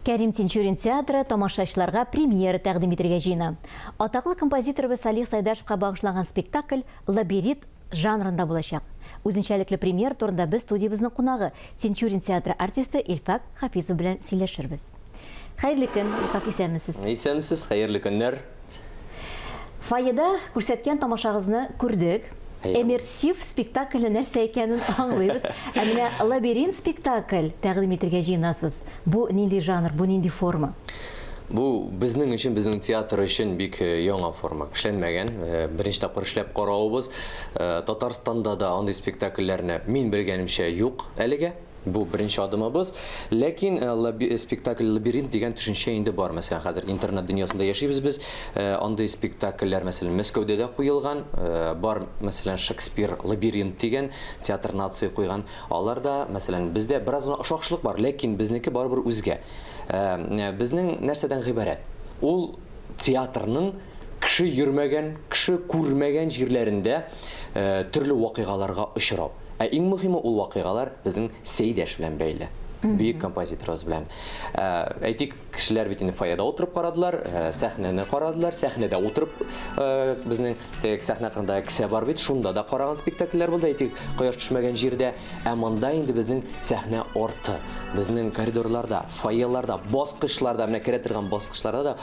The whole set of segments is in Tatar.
Кәрим Тинчурин театры тамашачыларга премьера тәкъдим итергә җыена. Атаклы композиторыбыз Салих Сайдашевка багышланган спектакль «Лабирит» жанрында булачак. Үзенчәлекле премьера турында без студиябезнең кунагы, Тинчурин театры артисты Илфак Хафизов белән сөйләшербез. Хәерле көн, Илфак, исәнмесез? Исәнмесез, хәерле көннәр. Фойеда күрсәткән тамашагызны күрдек. Әйе. Эмерсив спектакльне нәрсә икәнен аңлыйбыз. Ә менә лабиринт спектакль тәкъдим итергә җыенасыз. Бу нинди жанр, бу нинди форма? Бу безнең өчен, безнең театр өчен бик э, яңа форма. Эшләнмәгән. Э, Беренче тапкыр эшләп каравыбыз. Э, Татарстанда да андый спектакльләрне мин белгәнемчә юк әлегә. Бу беренче адымыбыз. Ләкин спектакль Лабиринт дигән төшенчә инде бар. Мәсәлән, хәзер интернет дөньясында яшибез без. Э, андый спектакльләр, мәсәлән, Мәскәүдә дә куелган. Э, бар, мәсәлән, Шекспир Лабиринт дигән театр нации куйган. Алар да, мәсәлән, бездә бераз гына ошакшылык бар, ләкин безнеке барыбер үзгә. Э, безнең нәрсәдән гыйбарәт? Ул театрның кеше йөрмәгән, кеше күрмәгән җирләрендә төрле вакыйгаларга очрау. Ә иң мөһиме ул вакыйгалар безнең Сәйдәш белән бәйле. Бөек композиторыбыз белән. Ә, Әйтик, кешеләр бит инде фойеда утырып карадылар, ә, сәхнәне карадылар, сәхнәдә утырып ә, безнең теге сәхнә кырында кесә бар бит, шунда да караган спектакльләр булды, әйтик, кояш төшмәгән җирдә. Ә монда инде безнең сәхнә арты, безнең коридорларда, фойеларда, баскычларда, менә керә торган баскычларда да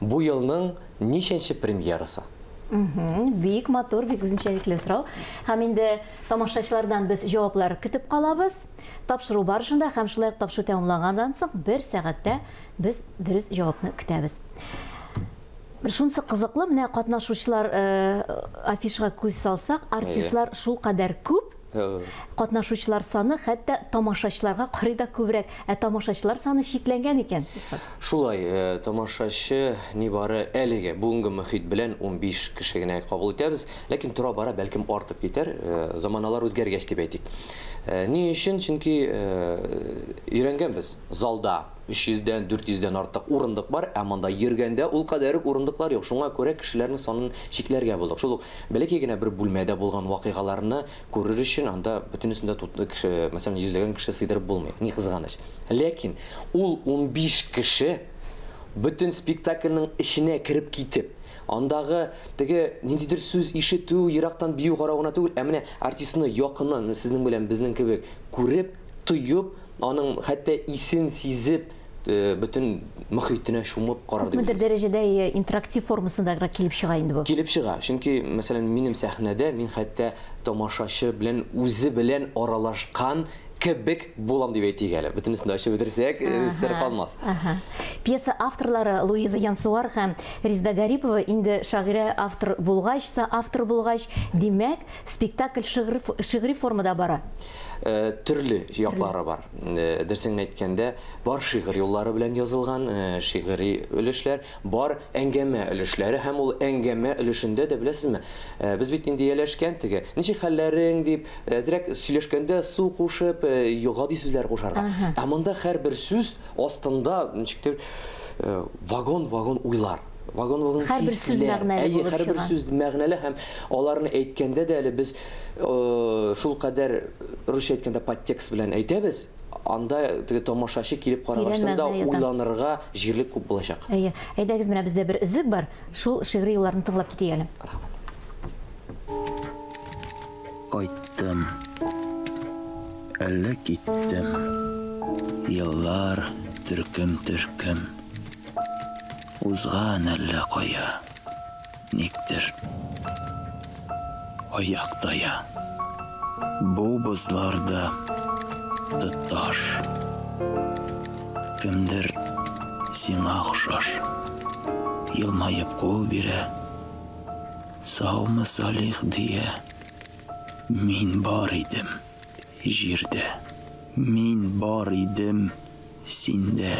Бу елның ничәнче премьерасы? Бик матур, бик үзенчәлекле сорау. Һәм инде тамашачылардан без җаваплар көтеп калабыз. Тапшыру барышында һәм шулай ук тапшыру тәмамланганнан соң бер сәгатьтә без дөрес җавапны көтәбез. Шунсы кызыклы, менә катнашучылар э, афишага күз салсак, артистлар шул кадәр күп, Катнашучылар саны хәтта тамашачыларга карый да күбрәк, ә тамашачылар саны чикләнгән икән. Шулай, тамашачы нибары әлеге, бүгенге мохит белән унбиш кеше генә кабул итәбез. Ләкин тора-бара, бәлкем, артып китәр, заманалар үзгәргәч дип әйтик. Ни өчен? Чөнки өйрәнгәнбез, залда өч йөздән, дүрт йөздән артык урындык бар, ә монда йөргәндә ул кадәр үк урындыклар юк. Шуңа күрә кешеләрнең санын чикләргә булдык. Шул ук Бәләкәй генә бер бүлмәдә булган вакыйгаларны күрер өчен анда бөтенесен дә тутлы кеше, мәсәлән, йөзләгән кеше сыйдырып булмый, ни кызганыч. Ләкин ул унбиш кеше бөтен спектакльнең эченә кереп китеп, андагы теге ниндидер сүз ишетү, ерактан бию карау гына түгел, ә менә артистны якыннан, менә сезнең белән безнең кебек күреп, тоеп, аның хәтта исен сизеп, бөтен мөхитенә чумып карар Күпмедер дәрәҗәдә интерактив формасында гына килеп чыга инде бу. Килеп чыга. Чөнки, мәсәлән, минем сәхнәдә мин хәтта тамашачы белән үзе белән аралашкан кебек булам дип әйтик әле. Бөтенесен дә ачып бетерсәк, сер калмас. Пьеса авторлары Луиза Янсуар һәм Резда Гарипова инде шагыйрә автор булгач, соавтор булгач, димәк, спектакль шигъри формада бара. Төрле яклары бар. Дөресен әйткәндә, бар шигырь юллары белән язылган шигыри өлешләр, бар әңгәмә өлешләре һәм ул әңгәмә өлешендә дә, беләсезме, без бит инде ияләшкән теге, ничек хәлләрең дип, әзрәк сөйләшкәндә су кушып, гади сүзләр кушарга. Ә монда һәрбер сүз астында ничектер вагон-вагон уйлар. Вагоновның хәр бер сүз мәгънәле булып чыга. Әйе, хәр бер сүз мәгънәле һәм аларны әйткәндә дә әле без шул кадәр русча әйткәндә подтекст белән әйтәбез, анда теге тамашачы килеп карагачтан да уйланырга җирлек күп булачак. Әйе. Әйдәгез, менә бездә бер өзек бар, шул шигъри юлларны тыңлап китик әле. Кайттым. Әллә киттем. Еллар төркем-төркем. Узган әллә кая, никтер, аяк тая. Бу бозлар да тоташ. Кемдер сиңа охшаш. Елмаеп кул бирә. Саумы, Салих, дия. Мин бар идем. җирдә. Мин бар идем синдә.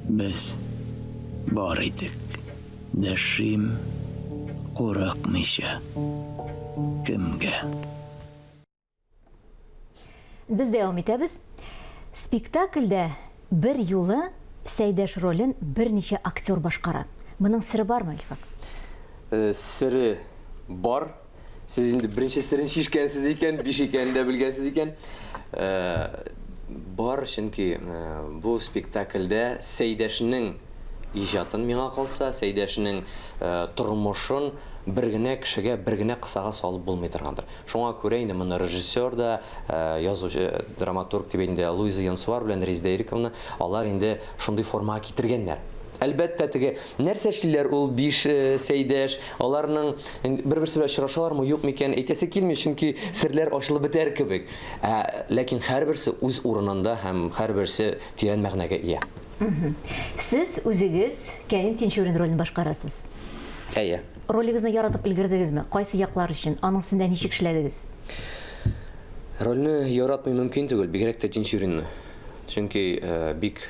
Без бар идек. Дәшим курыкмыйча кемгә. Без дәвам итәбез. Спектакльдә бер юлы Сәйдәш ролен берничә актер башкара. Моның сере бармы, Илфак? Сере бар. Сез инде беренче серен шишкәнсез икән, биш икәнен дә белгәнсез икән. Э, бар, чөнки э, бу спектакльдә Сәйдәшнең иҗатын миңа калса, Сәйдәшнең э, тормышын бер генә кешегә, бер генә кысага салып булмый торгандыр. Шуңа күрә инде моны режиссер да, язучы, драматург дип инде Луиза Янсуар белән Резеда Ириковна, алар инде шундый формага китергәннәр. Әлбәттә, теге Нәрсә эшлиләр ул биш сәйдәш, аларның бер-берсе белән очрашалармы, юкмы икән, әйтәсе килми, чөнки серләр ачылып бетәр кебек. Ә ләкин һәрберсе үз урынында һәм һәрберсе тирән мәгънәгә ия. Сез үзегез Кәрим Тинчурин ролен башкарасыз. Әйе. Ролегезне яратып өлгердегезме? Кайсы яклар өчен? Аның өстендә ничек эшләдегез? Рольне яратмый мөмкин түгел, бигрәк тә Тинчуринны. Чөнки бик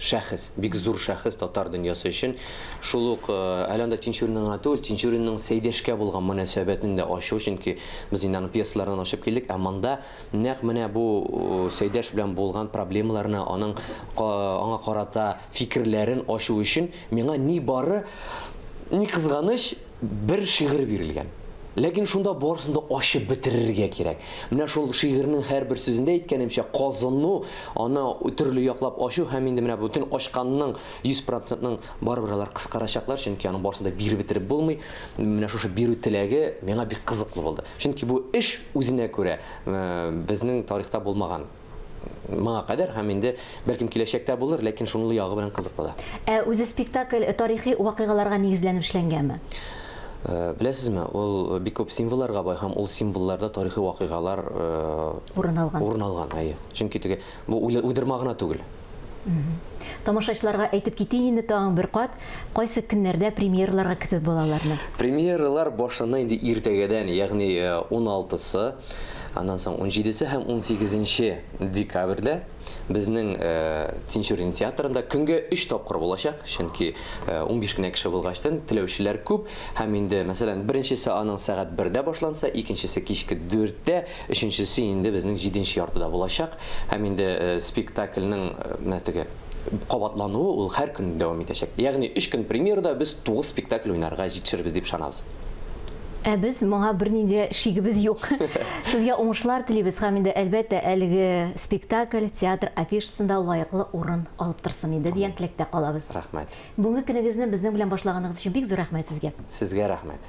шәхес, бик зур шәхес татар дөньясы өчен. Шул ук әле анда Тинчуринның гына түгел, Тинчуринның Сәйдәшкә булган мөнәсәбәтен дә ачу, чөнки без инде аның пьесаларыннан ачып килдек, ә монда нәкъ менә бу Сәйдәш белән булган проблемаларны, аның аңа карата фикерләрен ачу өчен миңа нибары, ни кызганыч, Бер шигырь бирелгән. Ләкин шунда барысын да ачып бетерергә кирәк. Менә шул шигырьнең һәрбер сүзендә әйткәнемчә, казыну, аны төрле яклап ачу һәм инде менә бөтен ачканның 100 процентын барыбер алар кыскарачаклар, чөнки аның барысын да биреп бетереп булмый. Менә шушы бирү теләге миңа бик кызыклы булды. Чөнки бу эш үзенә күрә безнең тарихта булмаган. моңа кадәр һәм инде бәлкем киләчәктә булыр, ләкин шунлы ягы белән кызыклы да. Ә үзе спектакль тарихи вакыйгаларга нигезләнеп эшләнгәнме? Э, беләсезме, ул бик күп символларга бай һәм ул символларда тарихи вакыйгалар э, урын алган. Урын алган, әйе. Чөнки теге бу уйдырма гына түгел. Тамашачыларга әйтеп китик инде тагын бер кат, кайсы көннәрдә премьераларга көтеп була аларны? Премьералар башына инде иртәгәдән, ягъни 16 сы, аннан соң 17 се һәм 18 нче декабрьдә безнең Тинчурин театрында көнгә өч тапкыр булачак, чөнки 15 кенә кеше булгачтын, теләүчеләр күп һәм инде, мәсәлән, беренчесе аның сәгать бердә башланса, икенчесе кичке дүрттә, Өченчесе инде безнең җиденче яртыда булачак. Һәм инде спектакльнең менә теге кабатлануы ул һәр көн дәвам итәчәк. Ягъни өч көн премьерада без тугыз спектакль уйнарга җитешербез дип ышанабыз. Ә без моңа бернинди дә шигебез юк. Сезгә уңышлар телибез һәм инде, әлбәттә, әлеге спектакль театр афишасында лаеклы урын алып торсын иде дигән теләктә калабыз. Рәхмәт. Бүгенге көнегезне безнең белән башлаганыгыз өчен бик зур рәхмәт сезгә. Сезгә рәхмәт.